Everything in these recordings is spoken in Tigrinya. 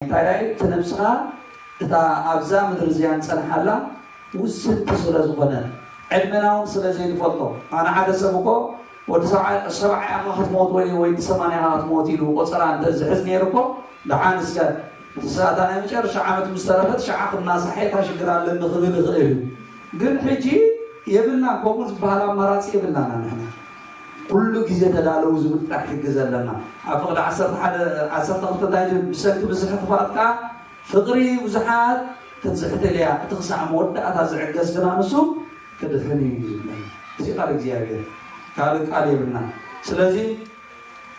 እንታይላይ እቲ ነብስና እታ ኣብዛ ምድሪ እዚኣ እንጸንሓላ ውስንቲ ስለ ዝኾነት ዕድመና ውን ስለ ዘይንፈልጦ ኣነ ሓደ ሰብ እኮ ወዲ ሰብዓ ኢኻ ክትሞት ወይ ወይዲ ሰማንያ ኢኻ ክትሞት ኢሉ ቆጸራ እንተ ዝሕዝ ነይሩ እኮ ደሓን እስከ እሳ እታ ናይ መጨረሻ ዓመት ምስ ተረፈት ሸዓ ክናሳሕ እየ እታ ሽግር ኣለኒ ክብል ይኽእል እዩ ግን ሕጂ የብልናን ከምኡ ዝበሃል ኣማራጺ የብልናን ኣንሕና ኩሉ ግዜ ተዳለዉ ዝብል ጥራሕ ሕጊ ዘለና ኣብ ፍቅዲ ዓሰርተ ሓደ ዓሰርተ ክልተ እንታይ ትብል ብሰንኪ ብዝሒ ክፋት ከኣ ፍቅሪ ብዙሓት ክትዝሕትል እያ እቲ ክሳዕ መወዳእታ ዝዕገስ ግና ንሱ ክድሕን እዩ ዝብለና እዚ ቃል እግዚኣብሔር ካልእ ቃል የብልና ስለዚ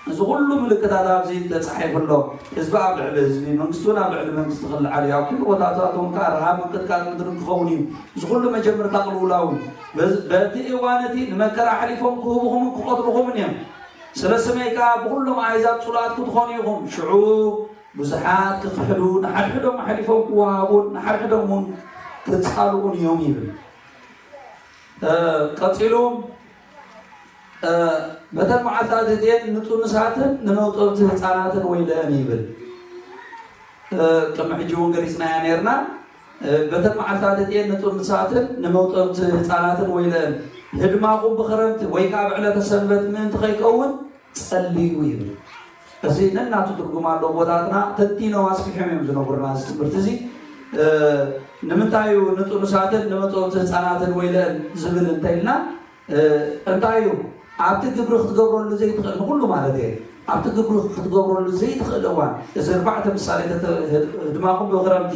እዚ ኩሉ ምልክታት ኣብዚ ተጻሒፉ ኣሎ። ህዝቢ ኣብ ልዕሊ ህዝቢ፣ መንግስቲ እውን ኣብ ልዕሊ መንግስቲ ክልዓል እዩ። ኣብ ኩሉ ቦታታት እውን ከኣ ረሃብ፣ ምንቅጥቃጥ ምድርን ክኸውን እዩ። እዚ ኩሉ መጀምርታ ቅልውላው እዩ። በዚ በቲ እዋን እቲ ንመከራ ኣሕሊፎም ክህቡኹምን ክቐትሉኹምን እዮም። ስለ ስመይ ከኣ ብኹሎም ኣህዛብ ጽሉኣት ክትኾኑ ኢኹም። ሽዑ ብዙሓት ክኽሕዱ፣ ንሓድሕዶም ኣሕሊፎም ክወሃቡን ንሓድሕዶም እውን ክጻልኡን እዮም ይብል። ቀጺሉ በተን መዓልታት እቲኤን ንጡኑሳትን ንመውጠብቲ ህፃናትን ወይለአን ይብል ቅድሚ ሕጂ እውን ገሊፅናያ ነርና በተን መዓልታት እቲኤን ንጡኑሳትን ንመውጠብቲ ህፃናትን ወይለአን ህድማኹም ብክረምቲ ወይ ከዓ ብዕለተ ሰንበት ምእንቲ ከይከውን ጸልዩ ይብል እዚ ነናቱ ትርጉም ኣለዎ ኣቦታትና ተንቲኖም ኣስፊሖም እዮም ዝነግሩና እዚ ትምህርቲ እዚ ንምንታይ እዩ ንጥኑሳትን ንመጠወቲ ህፃናትን ወይለን ዝብል እንተኢልና እንታይ እዩ ኣብቲ ግብሪ ክትገብረሉ ዘይትኽእል ንኩሉ ማለት እየ ኣብቲ ግብሪ ክትገብረሉ ዘይትኽእል እዋን እዚ እርባዕተ ምሳሌ ህድማኹም ብክረምቲ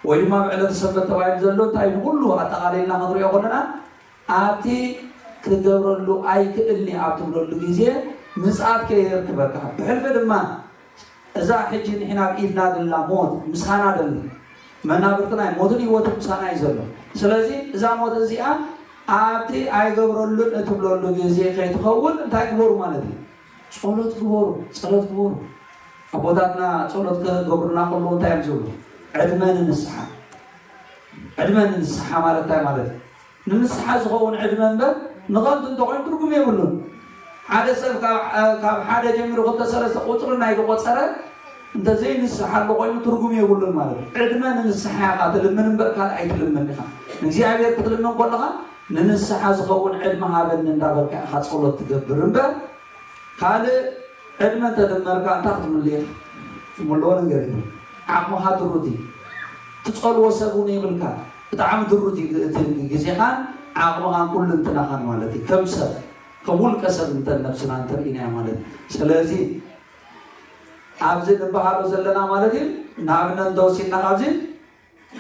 ወይ ድማ ብዕለተ ሰንበት ተባሂሉ ዘሎ እንታይ ንኩሉ ኣጠቓሊልና ክንሪኦ ከለና ኣብቲ ክትገብረሉ ኣይክእልን'የ ኣብ ትብለሉ ግዜ ምጽኣት ከየርክበካ፣ ብሕልፊ ድማ እዛ ሕጂ ንሕና ኣብ ኢድና ዘላ ሞት ምሳና ደላ መናብርትና እዩ፣ ሞትን ህይወትን ምሳና እዩ ዘሎ። ስለዚ እዛ ሞት እዚኣ ኣብቲ ኣይገብረሉን እትብለሉ ግዜ ከይትኸውን እንታይ ግበሩ ማለት እዩ? ጸሎት ግበሩ፣ ጸሎት ግበሩ። ኣቦታትና ጸሎት ክገብሩልና ከለዉ እንታይ እዮም ዝብሉ? ዕድመ ንንስሓ ዕድመ ንንስሓ ማለት እንታይ ማለት እዩ? ንምስሓ ዝኸውን ዕድመ እምበር ንኸንቱ እንተኾይኑ ትርጉም የብሉን። ሓደ ሰብ ካብ ሓደ ጀሚሩ ክልተ ሰለስተ ቁጽሪ እናይድቆጸረ እንተዘይንስሓሉ ኮይኑ ትርጉም የብሉን ማለት እዩ። ዕድመ ንንስሓ ኢኻ ትልምን እምበር ካልእ ኣይትልምን ኢኻ። ንእግዚኣብሔር ክትልምን ከለኻ ንንስሓ ዝኸውን ዕድመ ሃበኒ እንዳበልካ ኢኻ ጸሎት ትገብር እምበር ካልእ ዕድመ እንተደመርካ እንታይ ክትምሉ ኢኻ? ትምልዎ ነገር የለን። ዓቕምኻ ድሩት እዩ። ትጸልዎ ሰብ እውን የብልካ። ብጣዕሚ ድሩት እዩ እቲ እቲ ግዜኻን ዓቕምኻን ኩሉንትናኻን ማለት እዩ ከም ሰብ ከም ውልቀ ሰብ እንተ ነብስና እንተርኢናያ ማለት እዩ ስለዚ ኣብዚ ንበሃሎ ዘለና ማለት እዩ ንኣብነት እንተወሲድና ካብዚ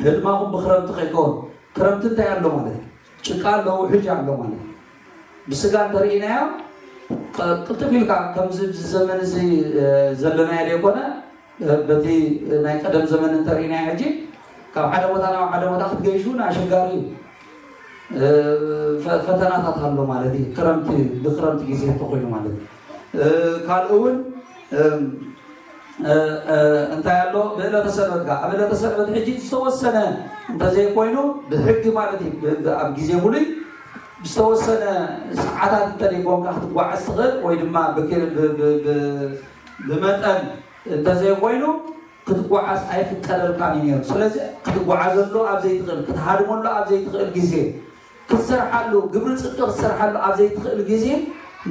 ህድማኹም ብክረምቲ ከይከውን ክረምቲ እንታይ ኣሎ ማለት እዩ ጭቃ ኣሎ ውሕጅ ኣሎ ማለት እዩ ብስጋ እንተርኢናዮ ቅልጥፍ ኢልካ ከምዚ ዘመን እዚ ዘለናዮ ዘይኮነ በቲ ናይ ቀደም ዘመን እንተሪእናዮ ሕጂ ካብ ሓደ ቦታ ናብ ሓደ ቦታ ክትገይሹ እውን ኣሸጋሪ እዩ ፈተናታት ኣሎ ማለት እዩ ክረምቲ ብክረምቲ ግዜ እንተኮይኑ ማለት ካልእ እውን እንታይ ኣሎ ብእለተ ሰንበት ጋር ኣብ እለተ ሰንበት ሕጂ ዝተወሰነ እንተዘይኮይኑ ብሕጊ ማለት እዩ ኣብ ግዜ ሙሉይ ዝተወሰነ ሰዓታት እንተደይኮንካ ክትጓዓዝ ትኽእል ወይ ድማ ብመጠን እንተዘይኮይኑ ክትጓዓዝ ኣይፍቀደልካን እዩ ነይሩ። ስለዚ ክትጓዓዘሉ ኣብ ዘይትኽእል፣ ክትሃድመሉ ኣብ ዘይትኽእል ግዜ፣ ክትሰርሓሉ ግብሪ ጽድቂ ክትሰርሓሉ ኣብ ዘይትኽእል ግዜ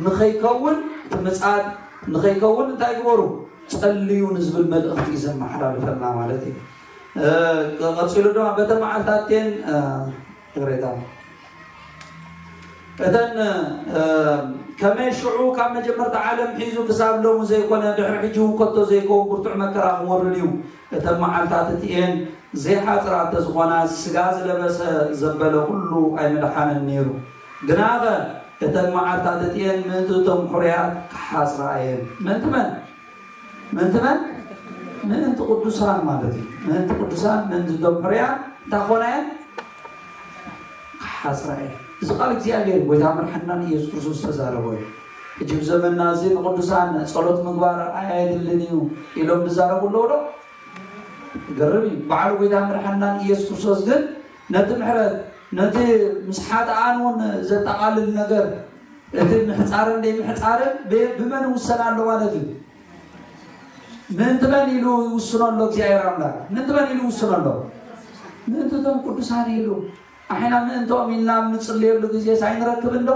ንኸይከውን እቲ ምጻድ ንኸይከውን እንታይ ግበሩ ጸልዩ ንዝብል መልእኽቲ እዩ ዘመሓላልፈልና ማለት እዩ። ቀጺሉ ድማ በተን መዓልትታትቴን ይቕሬታ እተን ከመይ ሽዑ ካብ መጀመርታ ዓለም ሒዙ ክሳብ ሎሚ ዘይኮነ ድሕሪ ሕጂ እውን ከቶ ዘይከውን ብርቱዕ መከራ ክወርድ እዩ እተን መዓልታት እቲኤን ዘይሓፅራ እንተዝኾና ስጋ ዝለበሰ ዘበለ ኩሉ ኣይምድሓነን ነይሩ ግናኸ እተን መዓልታት እቲኤን ምእንቲ እቶም ሕሩያት ክሓፅራ እየን ምእንቲ መን ምእንቲ መን? ምእንቲ ቅዱሳን ማለት እዩ። ምእንቲ ቅዱሳን፣ ምእንቲ እቶም ሕሩያን እንታይ ክኾና እየን? ክሓስራ እየን። እዚ ቃል እግዚኣብሔር ጎይታ መድሓኒናን ኢየሱስ ክርስቶስ ዝተዛረቦ እዩ። ሕጂ ብ ዘመንና እዚ ንቅዱሳን ጸሎት ምግባር ኣየድልን እዩ ኢሎም ዝዛረቡ ኣለዉ ዶ? ገርም እዩ። በዓሉ ጎይታ መድሓኒናን ኢየሱስ ክርስቶስ ግን ነቲ ምሕረት ነቲ ምስ ሓጥኣን እውን ዘጠቓልል ነገር እቲ ምሕጻርን ዘይምሕጻርን ብመን ይውሰን ኣሎ ማለት እዩ? ምእንቲ መን ኢሉ ይውስኖ ኣሎ እግዚኣብሔር ኣምላክ? ምእንቲ መን ኢሉ ይውስኖ ኣሎ? ምእንቲ እቶም ቅዱሳን ኢሉ። ኣሕና ምእንቶም ኢልና ኣብ ንጽልየሉ ግዜ ሳይንረክብ እንዶ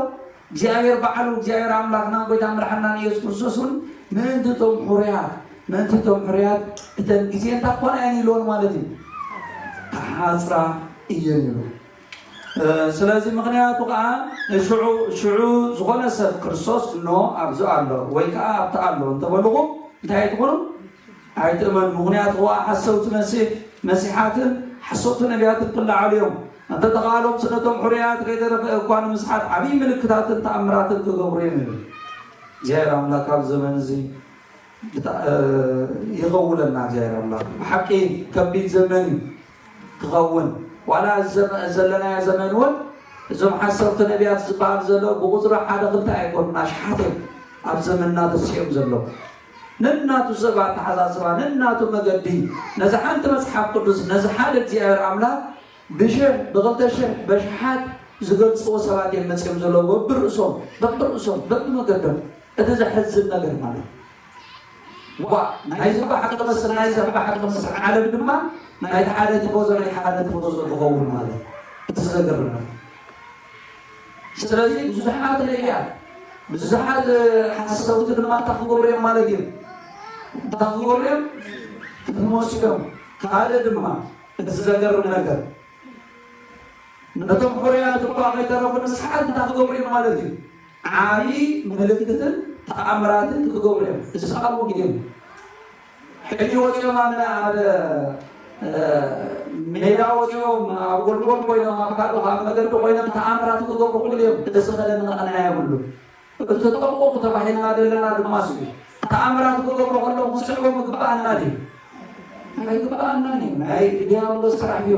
እግዚኣብሔር ባዕሉ እግዚኣብሔር ኣምላክናን ጎይታ መድሓናን ኢየሱስ ክርስቶስ እውን ምእንቲ እቶም ሕሩያት ምእንቲ እቶም ሕሩያት እተን ግዜ እንታ ኮና እየን ኢልዎን ማለት እዩ። ተሓጽራ እየን ኢሉ ስለዚ ምኽንያቱ ከኣ ንሽዑ ሽዑ ዝኾነ ሰብ ክርስቶስ እኖ ኣብዚ ኣሎ ወይ ከኣ ኣብቲ ኣሎ እንተበልኹም እንታይ ኣይትኹኑ ኣይትእመኑ ምኽንያቱ ከኣ ሓሰውቲ መሲሕ መሲሓትን ሓሰውቲ ነቢያትን ክለዓሉ እዮም እንተተኻሎም ስለቶም ሕሩያት ከይተረፈ እኳ ንምስሓት ዓብዪ ምልክታትን ተኣምራትን ክገብሩ እዮም ይብል እግዚኣብሔር ኣምላክ ኣብ ዘመን እዚ ይኸውለና እግዚኣብሔር ኣምላክ ብሓቂ ከቢድ ዘመን እዩ ክኸውን ዋላ እዚ ዘለናዮ ዘመን እውን እዞም ሓሰውቲ ነቢያት ዝበሃል ዘሎ ብቁፅሪ ሓደ ክልተ ኣይኮኑን ኣሽሓት እዮም ኣብ ዘመንና ተሲኦም ዘለዉ ነናቱ ሰብ ኣተሓሳስባ ነናቱ መገዲ ነዚ ሓንቲ መፅሓፍ ቅዱስ ነዚ ሓደ እግዚኣብሔር ኣምላኽ ብሽሕ ብክልተ ሽሕ በሽሓት ዝገልፅዎ ሰባት እዮም መፅኦም ዘለዎ በብርእሶም በብርእሶም በብመገዶም እቲ ዘሕዝን ነገር ማለት ዋእ ናይዚ እባ ሓቂ መስል ናይዚ እባ ሓቂ መስል ዓለም ድማ ናይቲ ሓደ ቲፎዞ ናይቲ ሓደ ቲፎዞ ክኸውን ማለት እዩ እቲ ዘገርም ነገር ስለዚ ብዙሓት ነቢያት ብዙሓት ሓሰውቲ ድማ እንታይ ክገብሩ እዮም ማለት እዩ እንታይ ክገብሩ እዮም ክትመሱ እዮም ካልእ ድማ እቲ ዘገርም ነገር ነቶም ሕሩያት እኳ ከይተረፉ ንስሓት እንታይ ክገብሩ እዮም ማለት እዩ ዓብዪ ምልክትን ተኣምራትን ክገብሩ እዮም ዝሰኣልዎ ግዜ እዩ ሕጂ ወፂኦም ኣብ ኣብ ሜዳ ወፂኦም ኣብ ጎልጎል ኮይኖም ኣብ ካልእ ኣብ መገዲ ኮይኖም ተኣምራት ክገብሩ ክሉ እዮም እዚ ከደን ንቐናያ የብሉ እቲ ተጠንቆቁ ተባሂልና ዘለና ድማ እሱ እዩ ተኣምራት ክገብሩ ከለዉ ክስዕቦ ምግባኣና ድዩ ኣይግባኣናን እዩ ናይ ዲያብሎስ ስራሕ እዩ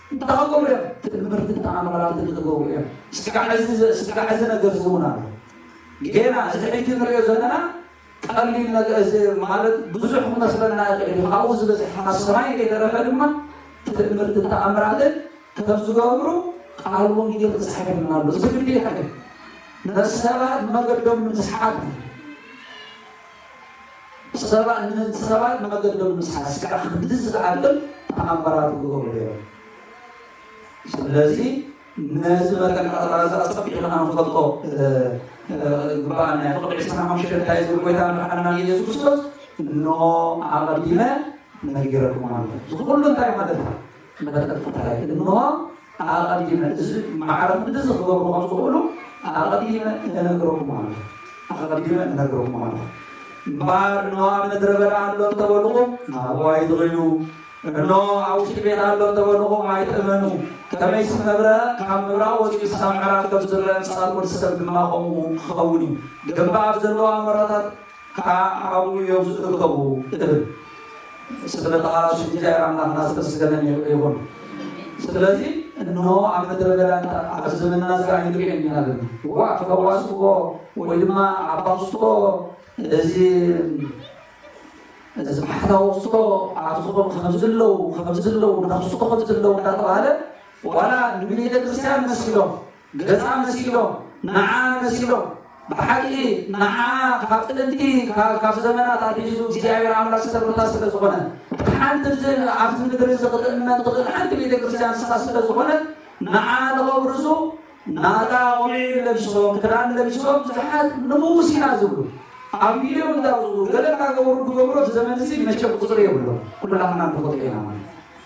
እንተኸከሙ እዮም ትእምርትን ተኣምራትን ዝገብሩ እዮም ስጋዕ እዚ ስጋዕ እዚ ነገር እዚ እውን ኣሎ ጌና እዚ ሕጂ ንሪኦ ዘለና ቀሊል ነገር እዚ ማለት ብዙሕ ክመስለና ይኽእል እዩ ካብኡ ዝበዝሕ ካብ ሰማይ ከይተረፈ ድማ ትእምርትን ተኣምራትን ከም ዝገብሩ ቃል ወንጌል ተጻሒፍና ኣሎ እዚ ግዴታ እዩ ንሰባት መገዶም ንምስሓት እዩ ሰባት ንህንት ሰባት ንመገዶም ምስሓስ ከዓ ክንዲ ዝዓቅም ተኣምራት ክገብሩ ነይሮም። ስለዚ ነዚ መጠን ቀጠራ እዚ ኣጸቢቑ ከዓ ንፈልጦ ግባኣና ናይ ፍቕዲ ዕስራን ሓሙሽተን እንታይ ዝብል ጎይታ ምርሓና ንኢየሱስ ክርስቶስ እኖ ኣቐዲመ ነጊረኩም ኣለኹ። እዚ ኩሉ እንታይ ማለት እዩ? መተከታተላይ እንሆ ኣቐዲመ እዚ ማዕረ ምድዚ ክገብሩ ከም ዝኽእሉ ኣቐዲመ እነግረኩም ኣለኹ ኣቐዲመ እነግረኩም ኣለኹ እምበኣር እንሆ ኣብ ምድረ በዳ ኣሎ እንተበልኹም ናብኡ ኣይትኽዩ እንሆ ኣብ ውሽጢ ቤት ኣሎ እንተበልኹም ኣይትእመኑ ከመይሲ መብረ ካብ ምብራቕ ወፂኡ ክሳብ ምዕራብ ከም ዝረአ ምሳልኩም ሰብ ድማ ከምኡ ክኸውን እዩ ግንባብ ዘለዋ መረታት ከኣ ኣብኡ እዮም ዝእከቡ እብል። ስለተሃ ስም እግዚኣብሔር ኣምላክና ዝተመስገነ ይኹን። ስለዚ እነሆ ኣብ ምድረ በዳ ኣብዚ ዘመንና እዚ ከዓ ንሪኦ ኢና ዘለና ዋ ፈዋስዎ ወይ ድማ ኣባብስቶ እዚ እዚ ባሕታዊ ክስቶ ኣብዚ ክኾኑ ከምዚ ኣለዉ ከምዚ ኣለዉ ንክስቶ ከምዚ ኣለዉ እንዳተባሃለ ዋላ ንቤተ ክርስቲያን መሲሎም ገጻ መሲሎም ንዓ መሲሎም ብሓቂ ንዓ ካብ ጥንቲ ካብ ዘመናት ኣትሒዙ እግዚኣብሔር ኣምላክ ዝተረታ ስለ ዝኾነ ሓንቲ ኣብዚ ምድሪ እዚ ክትእመን ትኽእል ሓንቲ ቤተ ክርስቲያን ንስኻ ስለ ዝኾነ ንዓ ንኸብርዙ ናታ ቆቢዕ ለቢሶም ክዳን ለቢሶም ብዙሓት ንሙስ ኢና ዝብሉ ኣብ ቪድዮ እንዳውፅኡ ገለ እናገበሩ ክገብሩ ዘመን እዚ መቸ ቁፅሪ የብሎ ኩላትና ንፈልጦ ኢና ማለት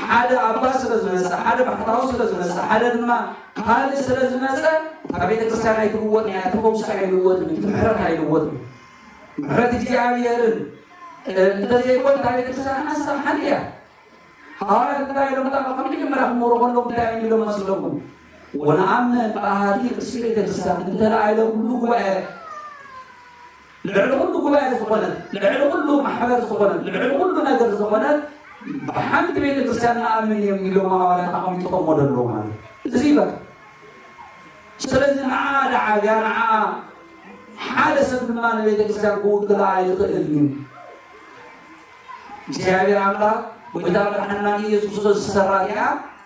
ሓደ ኣባ ስለ ዝመጸ፣ ሓደ ባሕታዊ ስለ ዝመጸ፣ ሓደ ድማ ካልእ ስለ ዝመጸ እታ ቤተ ክርስቲያን ኣይትልወጥን እያ፣ እቲ ፈውሲ ኣይልወጥን እዩ፣ እቲ ምሕረት ኣይልወጥን እዩ። ምሕረት እግዚኣብሔርን እንተዘይኮን እታ ቤተ ክርስቲያን ሓንሳብ ሓንቲ እያ። ሃዋርያት እንታይ ኢሎም እታ ከም መጀመርያ ክመሩ ከሎም እንታይ እዮም ኢሎም መስለኩም? ወነኣምን በሃቲ ቅድስቲ ቤተ ክርስቲያን እንተ ለዓለ ኩሉ ጉባኤ ልዕሊ ኩሉ ጉባኤ ዝኾነት፣ ልዕሊ ኩሉ ማሕበር ዝኾነት፣ ልዕሊ ኩሉ ነገር ዝኾነት ብሓንቲ ቤተ ክርስቲያን ንኣምን እዮም ኢሎም ሃዋርያት ኣቐሚጥኦሞ ደለዉ ማለት እዩ። እዚ በቃ ስለዚ ንዓኣ ደዓብያ ንዓኣ ሓደ ሰብ ድማ ንቤተ ክርስቲያን ክውክላ ኣይኽእልን እዩ። እግዚኣብሔር ኣምላክ ጎይታ መድሓና ኢየሱስ ክርስቶስ ዝሰራ እዚኣ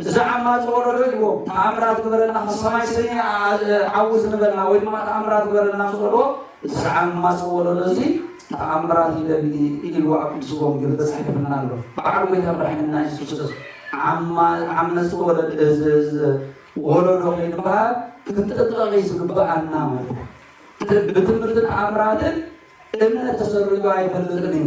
እዚ ዓማጺ ወለዶ እዩ እሞ ተኣምራት ግበረልና ካብ ሰማይ ስኒ ዓዉ ዝንበልና ወይ ድማ ተኣምራት ግበረልና ምስ በልዎ እዚ ዓማጺ ወለዶ እዚ ተኣምራት ይደሊ ኢልዎ ኣብ ቅዱስ ወንጌል ተጻሒፍና ኣሎ በዓል ጎይታ መድሓኒና የሱስ ክርስቶስ ዓመጽቲ ወለዶ ከይንበሃል ክንጥንቀቕ እዩ ዝግብኣና ማለት እዩ ብትምህርትን ተኣምራትን እምነት ተሰሪዑ ኣይፈልጥን እዩ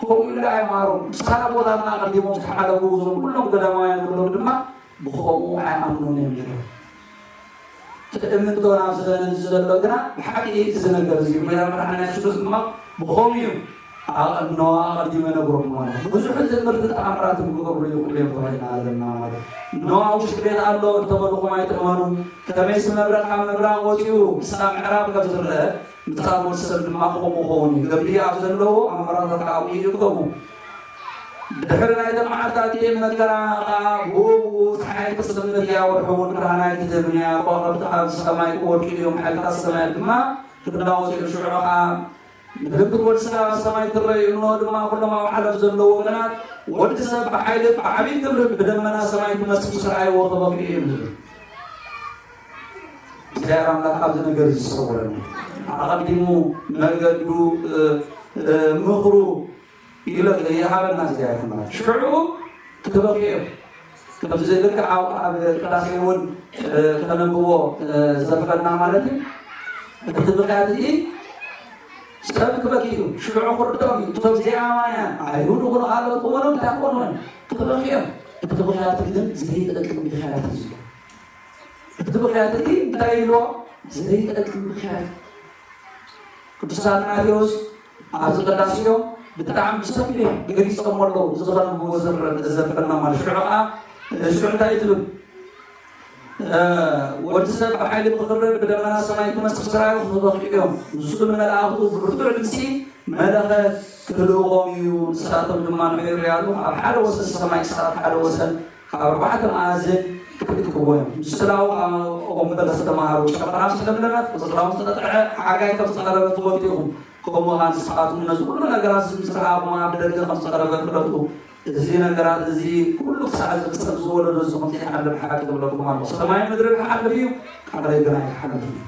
ከምኡ ኢሉ ኣይምሃሮም። ምሳሌ ኣቦታትና ኣቐዲሞም ዝተሓለፉ እዞም ኩሎም ገዳማውያን ንብሎም ድማ ብኸምኡ ኣይኣምኑን እዮም ነይሮም። ትእምንቶን ኣብዚ ዘመን እዚ ዘሎ ግና ብሓቂ እዚ ነገር እዚ ጎይታ መድሓኒና የሱስ ድማ ብኸምኡ እዩ ኣቐድነዋ ኣቐዲመ ነግሮም ማለት እዩ። ብዙሕ ትምህርቲ ተኣምራት ክገብሩ ይኽእሉ እዮም ተባሂልና ዘለና ማለት እዩ። ነዋ ውሽጢ ቤት ኣሎ እንተበልኹም ኣይትእመኑ፣ ከመይሲ መብረቕ ካብ ምብራቕ ወፂኡ ክሳብ ምዕራብ ከም ዝረአ ነቲ ካልእ ወድሰብ ድማ ከምኡ ክኸውን እዩ። ዘድልዩ ኣብ ዘለዎ ኣምዕራታት ከኣ ኣብኡ ይእከቡ። ብድሕሪ ናይተን መዓልታት እቲኤን መከራ ከኣ ብኡ ብኡ ጸሓይ ክትጽልምት እያ፣ ወርሒ እውን ብርሃና ክትህብን እያ፣ ከዋኽብቲ ካብ ሰማይ ክወድቁ እዮም፣ ሓይልታት ሰማያት ድማ ክናወጹ እዮም። ሽዑ ከኣ ምልክት ወድሰብ ኣብ ሰማይ ትረእ እዩ፣ እንሆ ድማ ኩሎም ኣብ ዓለም ዘለዉ ወገናት ወድሰብ ብሓይልን ብዓቢይ ክብርን ብደመና ሰማይ ክመጽእ ምስ ረኣይዎ ክበኽዩ እዮም ዝብል እግዚኣብሔር ኣምላክ ካብዚ ነገር እዚ ዝሰውረና ኣቐዲሙ መገዱ ምኽሩ ይግለፅ ይሃበና እግዚኣብሔር ኣምላክ ሽዑ ክበክዮ ከምዚ ልክዕ ኣብ ኣብ ቅዳሴ እውን ከነብቦ ዝተርፈና ማለት እዩ እቲ ምክንያት እዚ ሰብ ክበኪ እዩ ሽዑ ክርድኦም እዩ እቶም ዜማውያን ኣይሁድ ኩኑ ካልኦት ክኾኑ እንታይ ክኾኑ እዮም ክበክዮም እቲ ምክንያት ግን ዘይጠቅም ምክንያት እዩ እቲ ምኽንያት እቲ እንታይ ኢልዎ ዘይጠቅም ምኽንያት ቅዱስ ኣትናቴዎስ ኣብዚ ቅዳሴዮ ብጣዕሚ ብሰፊሕ ገሊፆሞ ኣለዉ ዝኸረምዎ ዘዘፈና ማለት ሽዑ ከዓ ሽዑ እንታይ ትብል ወዲ ሰብ ብሓይሊ ብኽብሪ ብደመና ሰማይ ክመፅእ ስራዩ ክበኽዑ እዮም ንሱ ንመላእኽቱ ብብርቱዕ ድምፂ መለኸ ክልእዎም እዩ ንሳቶም ድማ ንሕርያሉ ኣብ ሓደ ወሰን ሰማይ ክሳብ ሓደ ወሰን ካብ ኣርባዕተ መኣዝን ክትክወን ምስላው ኣኦምበር ዝተማሃሩ ጨበራ ምስ ለምለመት ቆጽላ ምስ ተቐጥዐ ሓጋይ ከም ዝተቐረበ ትፈልጡ ኢኹም። ከምኡ ኸኣ ንስኻትኩም ነዚ ኹሉ ነገራት እዚ ምስ ረኣኹም ኣብ ደገ ከም ዝተቐረበ ፍለጡ። እዚ ነገራት እዚ ኹሉ ክሳዕ ዝፍጸም እዚ ወለዶ እዚ ከም ዘይሓልፍ ሓቂ እብለኩም ኣሎኹ። ሰማይን ምድርን ክሓልፍ እዩ፣ ቃለይ ግን ኣይክሓልፍን እዩ።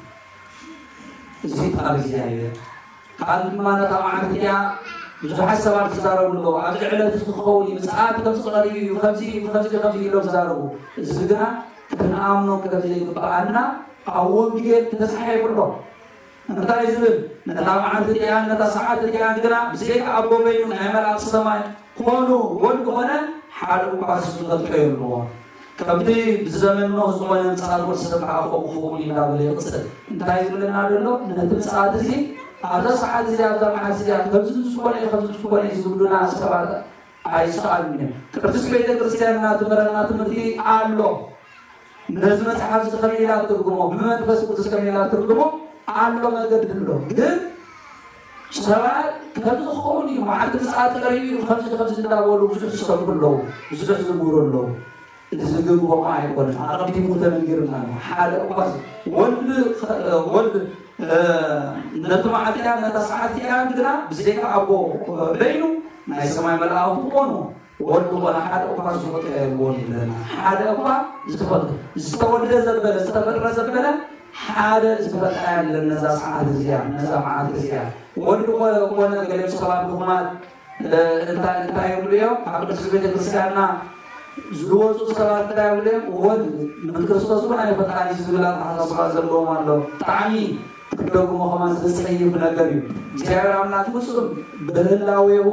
እዚ ቃል እግዚኣብሄር እዩ። ከኣ ድማ ነታ መዓልቲ እቲኣ ብዙሓት ሰባት ይዛረቡ ኣለዉ። ኣብዚ ዕለት እዚ ክኸውን እዩ፣ ምጽኣት ከምዚ ቀሪቡ እዩ፣ ከምዚ እዩ፣ ከምዚ እዩ፣ ከምዚ እዩ ኢሎም ይዛረቡ። እዚ ግና ክንኣምኖ ከም ዘይግብኣና ኣብ ወንጌል ተጻሒፉ ኣሎ። እንታይ እዩ ዝብል? ነታ መዓልቲ እቲኣን ነታ ሰዓት እቲኣን ግና ብዘይካ ኣቦ በይኑ ናይ መላእኽቲ ሰማይ ኮኑ ወልድ ኮነ ሓደ እኳ ዝፈልጦ የልቦን። ከምቲ ብዝዘመንኖ ዝኾነ ምጽኣት ወዲ ሰብ ከኣ ከምኡ ክኸውን እዩ እናበለ ይቕጽል። እንታይ እዩ ዝብለና ዘሎ? ነቲ ምጽኣት እዚ ኣብዛ ሰዓት እዚኣ ኣብዛ መዓልቲ እዚኣ ከምዚ ምስኮነ እዩ ከምዚ ምስኮነ እዩ ዝብሉና ሰባት ኣይሰኣሉን እዮም። ቅድስት ቤተ ክርስቲያንና ትምህረና ትምህርቲ ኣሎ። ነዚ መጽሓፍ እዚ ከመይ ኢላ ትርጉሞ ብመንፈስ ቅዱስ ከመይ ኢላ ትርጉሞ ኣሎ መገዲ ኣሎ ግን ሰባት ከምዚ ክኸውን እዩ መዓልቲ ምጽኣት ቀሪቡ እዩ ከምዚ ከምዚ እንዳበሉ ብዙሕ ዝሰብኩ ኣለዉ፣ ብዙሕ ዝምህሩ ኣለዉ። እቲ ዝግብኦም ኣይኮነን። ኣቐዲሙ ተነጊርና ኣሎ። ሓደ እኳ ወልድ ወልድ ነቲ መዓልቲ እያን ነታ ሰዓት እያን ግና ብዘይካ ኣቦ በይኑ ናይ ሰማይ መላእኽቱ ኮኑ ወርቂ ኾነ ሓደ እኳ ዝሞተ የልቦን ይብለና። ሓደ እኳ ዝተፈጥረ ዝተወልደ ዘበለ ዝተፈጥረ ዘበለ ሓደ ዝተፈጥረ ያለን ነዛ ሰዓት እዚኣ ነዛ መዓልቲ እዚኣ ወዲ ኮነ ገለ ሰባት ድኹማት እንታይ እንታይ ይብሉ እዮም ኣብ ቅዱስ ቤተክርስቲያንና ዝወፁ ሰባት እንታይ ይብሉ እዮም ወድ ንክርስቶስ እውን ኣይፈጣሪ ዝብል ኣተሓሳስባ ዘለዎም ኣሎ ጣዕሚ ክትደግሞ ከማ ዘፀይፍ ነገር እዩ እግዚኣብሔር ኣምላክ ፍፁም ብህላዌሁ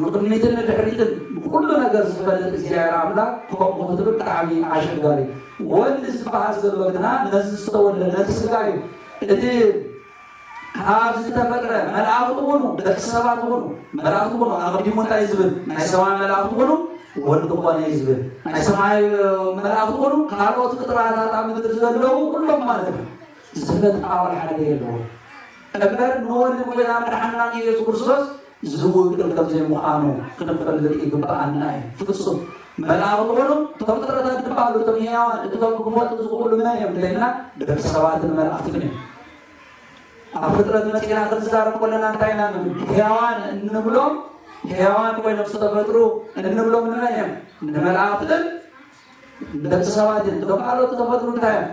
ንቕድሚትን ንድሕሪትን ብኩሉ ነገር ዝፈልጥ እግዚኣብሔር ኣምላክ ከምኡ ክትብል ብጣዕሚ ኣሸጋሪ እዩ። ወልድ ዝበሃል ዘሎ ግና ነዚ ዝተወልደ ነቲ ስጋ እዩ። እቲ ካብ ዝተፈጥረ መላእኽቲ ኩኑ ደቂ ሰባት ኩኑ መላእኽቲ ኩኑ ኣቐዲሙ እንታይ ዝብል ናይ ሰማይ መላእኽቲ ኩኑ ወልድ ኮነ እዩ ዝብል ናይ ሰማይ መላእኽቲ ኩኑ ካልኦት ፍጥረታት ኣብ ምድሪ ዘለዉ ኩሎም ማለት እዩ። ዝተፈልጠ ኣዋል ሓደ የለዎ እምበር ንወዲ ጎይታ መድሓንናን ኢየሱስ ክርስቶስ ዝውግን ከም ዘይምዃኑ ክንፈልጥ ይግብኣና እዩ። ፍጹም መልኣኽ ምዃኑ እቶም ፍጥረታት ድማ ኣሉ እቶም ሕያዋን እቶም ክፈልጡ ዝኽእሉ መን እዮም እንተይልና ደቂ ሰባትን መላእኽትን እዮም። ኣብ ፍጥረት መጺና ክንዛረብ ከለና እንታይ ኢና ንብል? ሕያዋን እንብሎም ሕያዋን ኮይኖም ዝተፈጥሩ እንብሎም ንመን እዮም? ንመላእኽትን ንደቂ ሰባትን እቶም ካልኦት ተፈጥሩ እንታይ እዮም?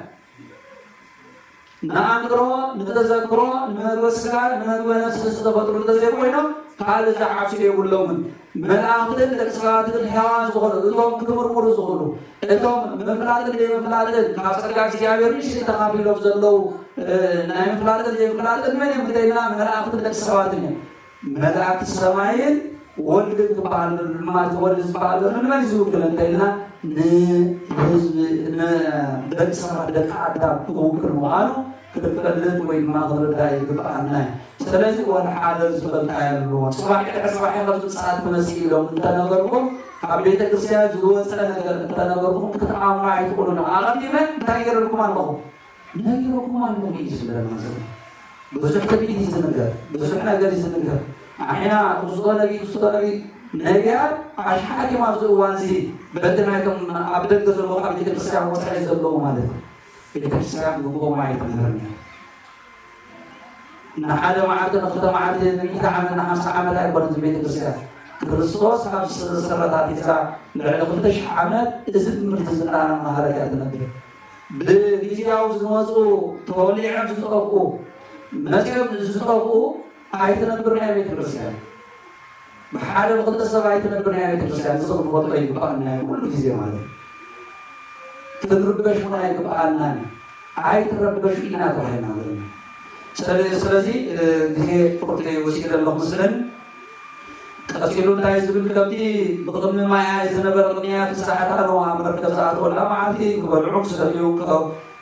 ንኣእምሮ፣ ንተዘክሮ፣ ንመግበ ስጋ፣ ንመግበ ነፍሲ ዝተፈጥሩ እንተዘይኮይኖም ካልእ ዝዓብሱ የብሎምን። መላእኽትን ደቂ ሰባትን ሕያዋን ዝኾኑ እቶም ክምርምሩ ዝኽእሉ እቶም ምፍላጥን ዘይምፍላጥን ካብ ጸጋ እግዚኣብሔር ንሽ ተኻፊሎም ዘለዉ ናይ ምፍላጥን ዘይምፍላጥን መን እዮም እንተኢልና መላእኽትን ደቂ ሰባትን እዮም። መላእክት ሰማይን ወልድን ክበሃሉ ድማ እቲ ወልድ ዝበሃል ዘሎ ንመን እዩ ዝውክል እንተኢልና ንህዝቢ ንደቂ ሰባት ደቂ ኣዳም ክውክል ምዃኑ ክንፈልጥ ወይ ድማ ክንርዳእ ይግብኣና እዩ። ስለዚ ወላ ሓደ ዝበልካ የለዎ ፅባሕ ድሕሪ ፅባሕ ከም ምፅኣት ትመፅእ ኢሎም እንተነገርኩም ካብ ቤተ ክርስቲያን ዝወፀ ነገር እንተነገርኩም ክትኣምኑ ኣይትኽእሉን። ኣቐዲመ እንታይ ገይረልኩም ኣለኹ? መን ኢሎኩም ኣሎ ኢዩ ዝብለና ዘሎ ብዙሕ ትንቢት ኢዩ ዝንገር ብዙሕ ነገር ኢዩ ዝንገር ኣሕና ክምዝኮ ነቢ ክስኮ ነቢ ነቢያት ኣሽሓት ኢዮም ኣብዚ እዋን እዚ በቲ ናይቶም ኣብ ደገ ዘለዎ ካብ ቤተክርስትያን ወፃኢ ዘለዎ ማለት እዩ ቤተክርስትያን ግቡኦም ኣይትምህርን እያ ንሓደ መዓልቲ ንክልተ መዓልቲ ንሚእቲ ዓመት ንሓምሳ ዓመት ኣይኮነ እዚ ቤተክርስትያን ክርስቶስ ካብ መሰረታት ሒዛ ልዕሊ ክልተ ሽሕ ዓመት እዚ ትምህርቲ እዚ እናመሃረት እያ ትነብር ብግዝያዊ ዝመጹ ተወሊዖም ዝጠፍኡ መጺኦም ዝጠፍኡ ኣይትነብርን እያ ቤተክርስትያን ብሓደ ብክልተ ሰብ ኣይትነብርን እያ ቤተክርስትያን እዚ ክንፈልጦ ይግባኣና እዩ ኩሉ ግዜ ማለት እዩ ክንርበሽ እውን ኣይግባኣናን ኣይትረበሹ ኢና ተባሂልና ዘለና ስለዚ ግዜ ፍርቂ ወሲደ ኣለኹ ምስለን ቀጺሉ እንታይ ዝብል ከብቲ ብቕድሚ ማያይ ዝነበረ ቅንያት ብሰዓት ኣነዋ መርከብ ዝኣተወላ መዓልቲ ክበልዑ ክሰልዩ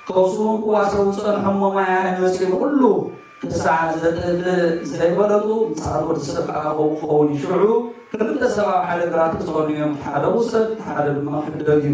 ከውስውን ክዋሰቡ ዝጸንሖሞ ማያይ መጺኡ ኩሉ ክሳዕ ዘጥል ዘይበለጡ ምጽኣት ወዲ ሰብ ከዓ ከምኡ ክኸውን እዩ። ሽዑ ክልተ ሰብ ኣብ ሓደ ግራት ክጸኑ እዮም፣ ሓደ ውሰድ፣ ሓደ ድማ ሕደግ እዩ።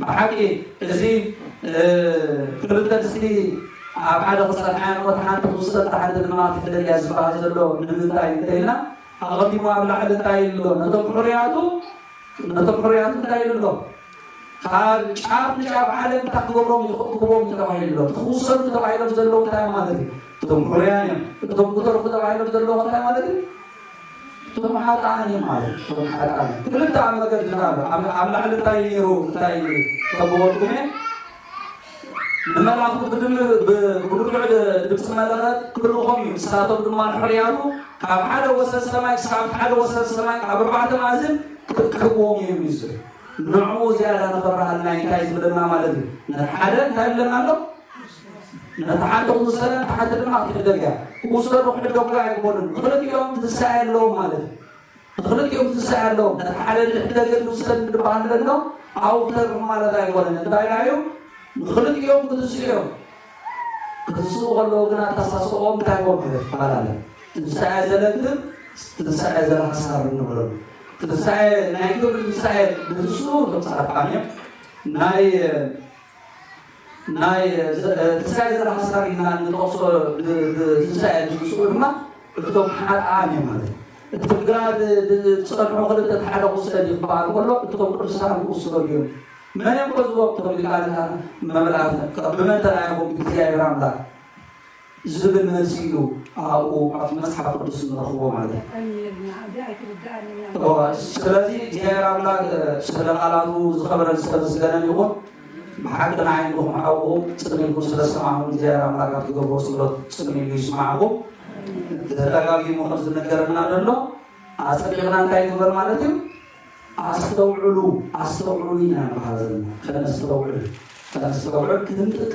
ብሓቂ እዚ ክልተ ምስሊ ኣብ ሓደ ክጸንሓ እሞ እቲ ሓንቲ ትውሰድ እታ ሓንቲ ድማ ትሕደግ እያ ዝበሃል ዘሎ ንምንታይ እንተኢልና ኣቐዲሙ ኣብ ላዕሊ እንታይ ኢሉ ኣሎ ነቶም ሕሩያቱ ነቶም ሕሩያቱ እንታይ ኢሉ ኣሎ ካብ ጫፍ ንጫፍ ዓለም እንታይ ክገብሮም እዩ ክእክቦም እዩ ተባሂሉ ኣሎ ክውሰዱ ተባሂሎም ዘለዉ እንታይ ማለት እዩ እቶም ሕሩያን እዮም እቶም ክተርፉ ተባሂሎም ዘለዉ እንታይ ማለት እዩ እቶም ሓጥኣን እዮም ማለት እቶም ሓጥኣን ክልተ ኣብ መገዲ ንኣሉ ኣብ ላዕሊ እንታይ ነይሩ እንታይ ተበወልኩሜ ንመላእኽቱ ብድምር ብብርቱዕ ድምፂ መለኸት ክልእኾም እዩ ንሳቶም ድማ ንሕርያቱ ካብ ሓደ ወሰን ሰማይ ክሳብ ሓደ ወሰን ሰማይ ካብ ኣርባዕተ ማእዝን ክሕግዎም እዮም እዩ ዝብል ንዕኡ ዝያዳ ንኽብርሃልና እንታይ ዝብለና ማለት እዩ ንሓደ እንታይ ብለና ኣሎ ነቲ ሓንቲ ክውሰዳ ነቲ ሓንቲ ድማ ክትሕደግ እያ። ክውሰዱ ክሕደጉ ኣይኮኑን፣ ንኽልቲኦም ትንሳኤ ኣለዎም ማለት እዩ። ንኽልቲኦም ትንሳኤ ኣለዎም። ነቲ ሓደ ንሕደግን ንውሰድ እንድበሃል ደሎ ኣብኡ ክተርፍ ማለት ኣይኮነን። እንታይ ደኣ እዩ? ንኽልቲኦም ክትንስኡ እዮም። ክትንስኡ ከለዉ ግን ኣተሳስኦም እንታይ ኮም ማለት ይፈላለ። ትንሳኤ ዘለግብ፣ ትንሳኤ ዘለሓሳር ንብሎ። ትንሳኤ ናይ ግብሪ ትንሳኤ ንትንስኡ እቶም ጻድቃን እዮም ናይ ናይ ትንሳኤ ዘርኢ ሓሳብ ኢልና እንጠቕሶ ንትንሳኤ ዝምስኡ ድማ እቶም ሓጥኣን እዮም ማለት እዩ። እቲ ብግራድ ዝጸንሑ ክልተ ሓደ ክውሰድ እዩ ክበሃል ከሎ እቶም ቅዱሳን ክውሰዱ እዮም። መን እዮም ከ ዝወቅቶም ኢልካ ነታ መብላት ብመን ተራኢኹም እግዚኣብሔር ኣምላክ ዝብል መልሲ ኢሉ ኣብኡ ኣብቲ መጽሓፍ ቅዱስ ንረኽቦ ማለት እዩ። ስለዚ እግዚኣብሔር ኣምላክ ስለ ቃላቱ ዝኸበረን ዝተመስገነን ይኹን። ብሓቂ ንዓይ ንኹም ሓውኹ ጽን ኢልኩም ስለ ሰማዕኹም እግዚኣብሔር ኣምላክ ኣብ ትገብሮ ጸሎት ጽን ኢሉ ይስማዕኩም። ተደጋጊሙ ከም ዝነገረና ዘሎ ኣጸቢቕና እንታይ ንግበር ማለት እዩ ኣስተውዕሉ ኣስተውዕሉ ኢና ንበሃል ዘለና ከነስተውዕል ከነስተውዕል ክንጥቀ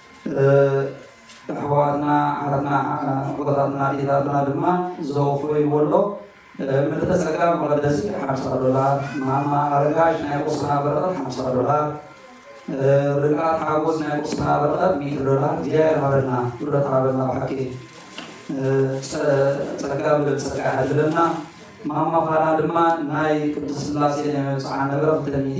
ኣሕዋትና ኣሓትና ኣቦታትና ኣዴታትና ድማ ዘወፈይዎ ኣሎ ምልእተ ጸጋ መቐደሲ ሓምሳ ዶላር ማማ ኣረጋሽ ናይ ቁስና በረኸት ሓምሳ ዶላር ርቃት ሓጎስ ናይ ቁስና በረኸት ሚእቲ ዶላር እግዚኣብሔር ሃበልና ብረት ሃበልና ብሓቂ ጸጋ ብልብ ጸጋ ያድለና ማማ ፋና ድማ ናይ ቅዱስ ስላሴ ናይ መብጽዓ ነበረ ክተሚቲ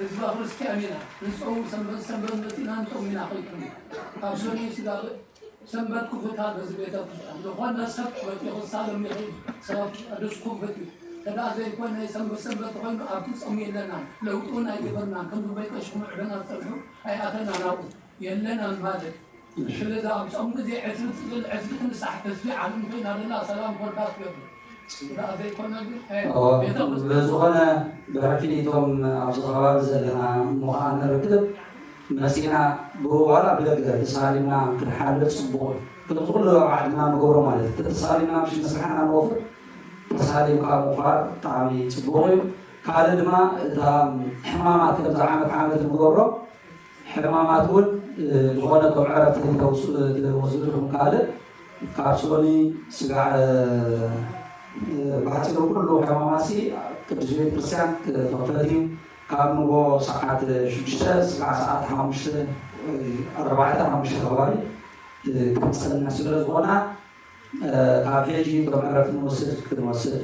ህዝባ ክርስትያን ኢና ንጸውም ሰንበት ሰንበት መጺና ንጾም ኢና ከይትብሉ ካብ ሰኑይ ስጋብ ሰንበት ክፉታ በዚ ቤተክርስትያን ዝኾነ ሰብ መጺኹ ክሳለም ይኽእል ሰብ ቅዱስ ክፉት እዩ ተዳኣ ዘይኮነ ሰንበት ሰንበት ኮይኑ ኣብቲ ጾም የለናን ለውጢ ውን ኣይገበርናን ከምዚ በይቀሽኩም ዕደና ትጸንሑ ኣይኣተናን ኣብኡ የለናን ማለት ምሕልላው ጾም ግዜ ዕስቢ ጽልል ዕስቢ ትምሳሕ ተስፊ ዓለም ኮይና ዘላ ሰላም ኮርዳት ገድሊ ጽግራ ዘይኮነ ግን ቤተ በዝኾነ ብሕልፊ ኒቶም ኣብዚ ከባቢ ዘለና እሞ ኸኣ ንርክብ መጺእና ብኡ ዋላ ብደገ ተሳሊምና ክንሓልፍ ጽቡቕ እዩ ከምዚ ኩሉ ኣብ ዓድና ንገብሮ ማለት እዩ ተተሳሊምና ምሽ መስርሕና ንወፍር ተሳሊምካ ምዃር ብጣዕሚ ጽቡቕ እዩ ካልእ ድማ እታ ሕማማት ከምዚ ዓመት ዓመት ንገብሮ ሕማማት እውን ዝኾነ ከም ዕረፍቲ ተውስድተወስዱ ኢኹም ካልእ ካብ ሶኒ ስጋዕ ብሓፂሩ ኩሉ ሕማማት ሲ ቅዱስ ቤተ ክርስቲያን ክኽፈት እዩ ካብ ንጎ ሰዓት ሽዱሽተ ስጋዕ ሰዓት ሓሙሽተ ኣርባዕተ ሓሙሽተ ከባቢ ክንፀንሕ ስለ ዝኾና ካብ ሕጂ እቶም ዕረፍቲ ንወስድ ክንወስድ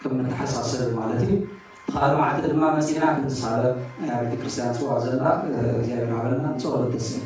ከም ንተሓሳሰብ ማለት እዩ እቲ ካልእ መዓልቲ ድማ መጺና ክንሳለም እያ ቤተክርስትያን ጽዋ ዘላ እግዚኣብሔር ሃበና ንጸሎት ተሰል